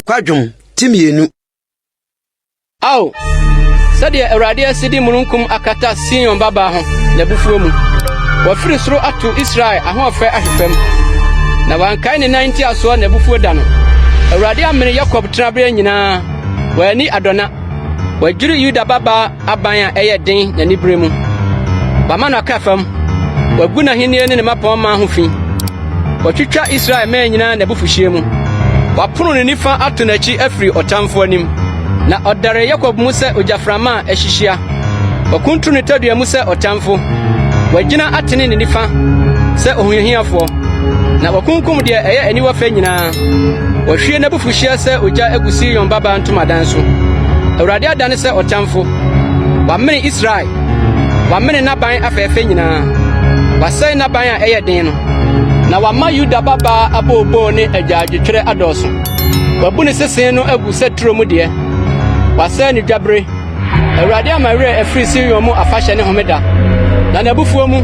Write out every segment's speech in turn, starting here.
kwadwom ti mmienu. Ao, sɛdeɛ Awurade asi de mununkum akata Sion babaa ho n'abufuo mu. Wafiri soro ato Israel ahoɔfɛ ahwe fam, na wankae ne nan ntiasoɔ n'abufuo da no. Awurade amene Yakob tenaberɛ nyinaa, wanni adɔna. Wɔadwiri Yuda babaa aban a ɛyɛ den n'anibere mu. Wɔama no akra fam. Wɔagu n'ahenni ne ne mmapɔmma ho fi. Wɔatwitwa Israel mmɛn nyinaa n'abufuhyeɛ mu. Wɔapono ne nifa ato n'akyi afiri ɔtamfo anim. Na ɔdare Yakob mu sɛ ogyaframa a ahyihia. Wɔakuntunu ne tadua mu sɛ ɔtamfo. Wɔagyina atene ne nifa sɛ ohiahiafoɔ. Na wɔakunkum deɛ ɛyɛ aniwa fɛ nyinaa. Wahwie n'abufuhyeɛ sɛ ogya agu Sion babaa ntomadan so. Awurade adane sɛ ɔtamfo. Wamene Israel. Wamene n'aban afɛɛfɛ nyinaa. Wasɛe n'aban a ɛyɛ den no. Na wama Yuda babaa abooboo ne agyaadwotwerɛ adɔɔso. Wabu ne sesee no agu sɛ turo mu deɛ. Wasɛe ne dwabere. Awurade ama werɛ afiri Sion mu afahyɛ ne homeda, na n'abufuo mu,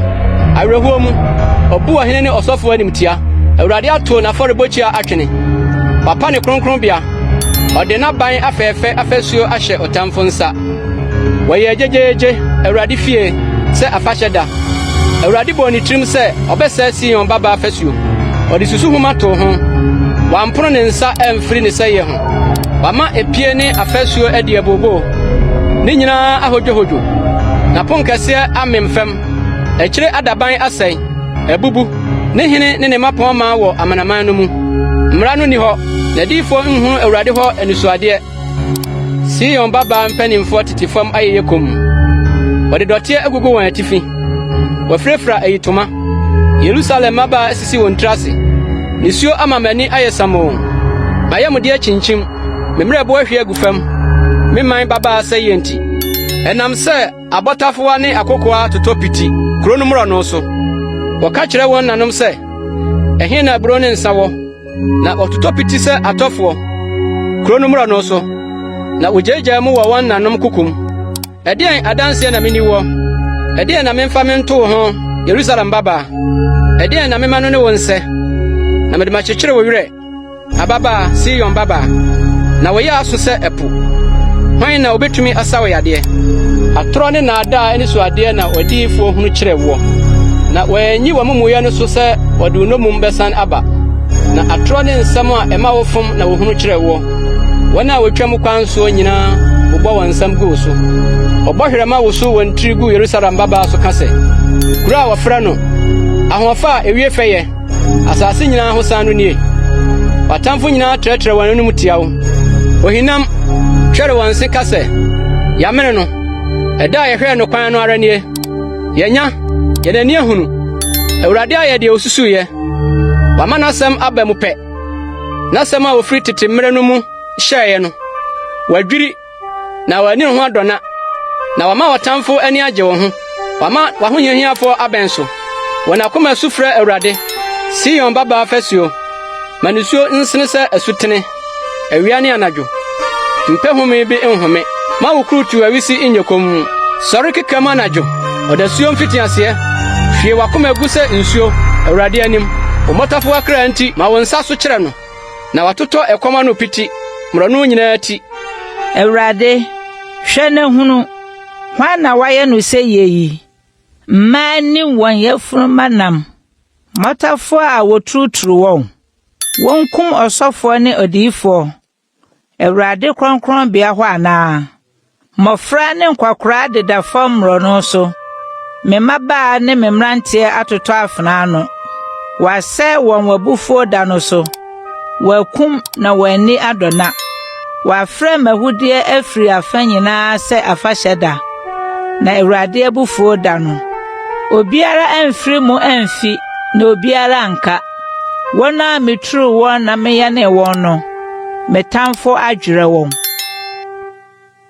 awerɛhoɔ mu, ɔbu ɔhene ne ɔsɔfoɔ animtia. Awurade ato n'afɔrebɔkyia atwene, wapa ne kronkronbea, ɔde n'aban afɛɛfɛ afasuo ahyɛ ɔtamfo nsa. Wɔyɛɛ gyegyeegye Awurade fie sɛ afahyɛ da. Awurade bɔɔ ne tirim sɛ ɔbɛsɛe Sion babaa fasuo, ɔde susuhoma too ho, wampono ne nsa amfiri ne sɛeɛ ho. Wama epie ne afasuo adi abooboo, ne nyinaa ahodwohodwo. N'aponkɛseɛ amem fam, akyire adaban asɛe, abubu. Ne hene ne ne mmapɔmma wɔ amanaman no mu. Mmara no nni hɔ, n'adiyifoɔ nhunu Awurade hɔ anisoadeɛ. Sion babaa mpanimfoɔ tete fam ayeyɛ komm, wɔde dɔteɛ agugu wɔn atifi, wɔafirafira ayitoma. Yerusalem mmabaa asisi wɔn tiri ase. Nisuo ama m'ani ayɛ samoo, m'ayamdeɛ akyinkyim, me mmerɛbo ahwie agu fam, me man babaa sɛeɛ nti. Ɛnam sɛ abɔtafowa ne akokoaa atotɔ piti kuro no mmorɔno so. Wɔka kyerɛ wɔn nanom sɛ, Ɛhe na aburoo ne nsã wɔ? Na wɔtotɔ piti sɛ atɔfoɔ kuro no mmorɔno so, na wɔgyaagyaa mu wɔ wɔn nanom koko mu. Ɛdeɛn adanseɛ na meni wɔ? Ɛdeɛn na memfa me nto wo ho, Yerusalem babaa? Ɛdeɛn na mema no ne wo nsɛ? Na mede makyekyere wo werɛ, ababaa Sion babaa, na wo yea aso sɛ ɛpo. Hwan na ɔbɛtumi asa wo yadeɛ? Atorɔ ne nnaadaa anisoadeɛ na w'adiyifoɔ hunu kyerɛ woɔ, na wɔanyi w'amumuyɛ no so sɛ wɔde wo nnommum bɛsan aba. Na atorɔ ne nsɛm a ɛma wofom na wɔhunu kyerɛ woɔ. Wɔn a wɔtwam kwan soɔ nyinaa bobɔ wɔn nsam gu wo so. Ɔbɔhwerɛma woso wɔn tiri gu Yerusalem mmabaa so ka sɛ, Kuro a wɔfrɛ no ahoɔfɛ a ɛwie fɛyɛ, asase nyinaa ho san no nie! W'atamfo nyinaa trɛtrɛ wɔn anom tia wo. Ohinam twɛre wɔn se ka sɛ, Yɛamene no. Ɛda a yɛhwɛɛ no kwan no ara nie. Yɛanya, yɛn ani ahunu. Awurade ayɛ deɛ ɔsusuiɛ. Wama n'asɛm aba mu pɛ. N'asɛm a ofiri tete mmere no mu hyɛeɛ no, wadwiri, na w'ani ho adɔna, na wama w'atamfo ani agye wo ho. Wama w'ahohiahiafoɔ abɛn so. Wɔn akoma su frɛ Awurade, Sion babaa fasuo, ma nisuo nsene sɛ asutene. Awia ne anadwo, mpɛ home bi nhome. Ma wo kurutuw awisi nyɛ komm. Sɔre keka mu anadwo, ɔdasuo mfitiaseɛ. Hwie w'akoma gu sɛ nsuo Awurade anim. Wo mmotafowa kra nti, ma wo nsa so kyerɛ no, na watotɔ ɛkɔm ano piti, mmorɔno nyinaa ti. Awurade, hwɛ na hunu, hwan na woayɛ no sɛyɛ yi? Mmaa ne wɔn yafunumma nam, mmotafowa a wɔturuturu wɔn. Wɔnkum ɔsɔfoɔ ne odiyifoɔ. Awurade kronkronbea hɔ anaa? Mmɔfra ne nkwakoraa deda fam mmorɔno so. Me mmabaa ne me mmeranteɛ atotɔ afena ano. Wɔasɛe wɔn w'abufuo da no so. Wɔakum na wɔn ani adɔna. Wɔafrɛ m'ahudeɛ afiri afa nyinaa sɛ afahyɛ da, na Awurade abufuo da no. Obiara amfiri mu amfi, na obiara anka. Wɔn a mituu wɔn na meyɛnee wɔn no, me tamfo adwerɛ wɔn.